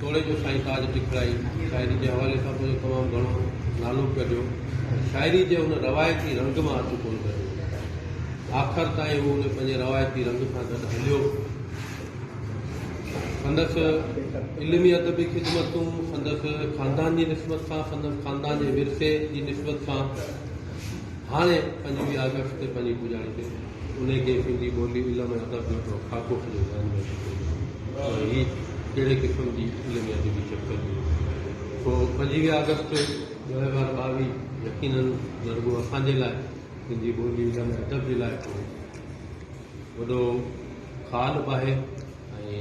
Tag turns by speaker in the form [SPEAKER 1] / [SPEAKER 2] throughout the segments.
[SPEAKER 1] توڙي جو سائين تاج ٽکڙائي شاعري جي حوالي سان پنهنجو تمام گهڻو نالو ڪڍيو پر شاعري جي ان روايتي رنگ مان هٿ ڪونه ڪڍيو آخر تائين هو ان پنهنجي روايتي رنگ سان گڏ هليو سندس علمي ادبي خدمتون سندس خاندان جي نسبت سان سندس خاندان جي ورثي جي نسبت سان هاڻي پنهنجي آگسٽ تي پنهنجي پڄاڻي تي انهيء کي سنڌي ٻولي، علم ۽ ادب جو هڪڙو خاڪو سڄو ذهن ۾ اچي پيو ته هي ڪهڙي قسم جي علمي ادبي چڪر جي سو پنجويهه آگسٽ ٻه هزار ٻاويهه يقيناً نه رڳو اسان جي لاء سنڌي ٻولي، علم ۽ ادب جي لاء هڪڙو وڏو خال به آهي. ۽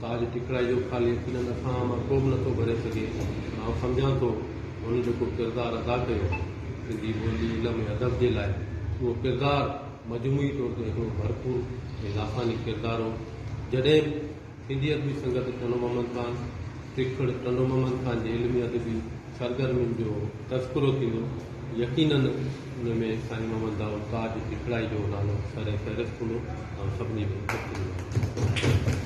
[SPEAKER 1] تاج ٽکڙائي جو خال يقينن اکا مان ڪو به نٿو ڀري سگهي پر آئون سمجهان ٿو ته هن جيڪو ڪردار ادا ڪيو سنڌي ٻولي علم ۽ ادب جي لاء اهو ڪردار مجموعي طور تي هڪڙو ڀرپور ۽ لافاني ڪردار هو جڏهن به سنڌي ادبي سنگت ٽنڊو محمد خان ٽکڙ ٽنڊو محمد خان جي علمي ادبي سرگرمين جو تذڪرو ٿيندو، يقينن ان ۾ سائين محمد دائود تاج ٽکڙائي جو نالو سر فهرست هوندو ۽ سڀني ۾ ذڪر ٿيندو.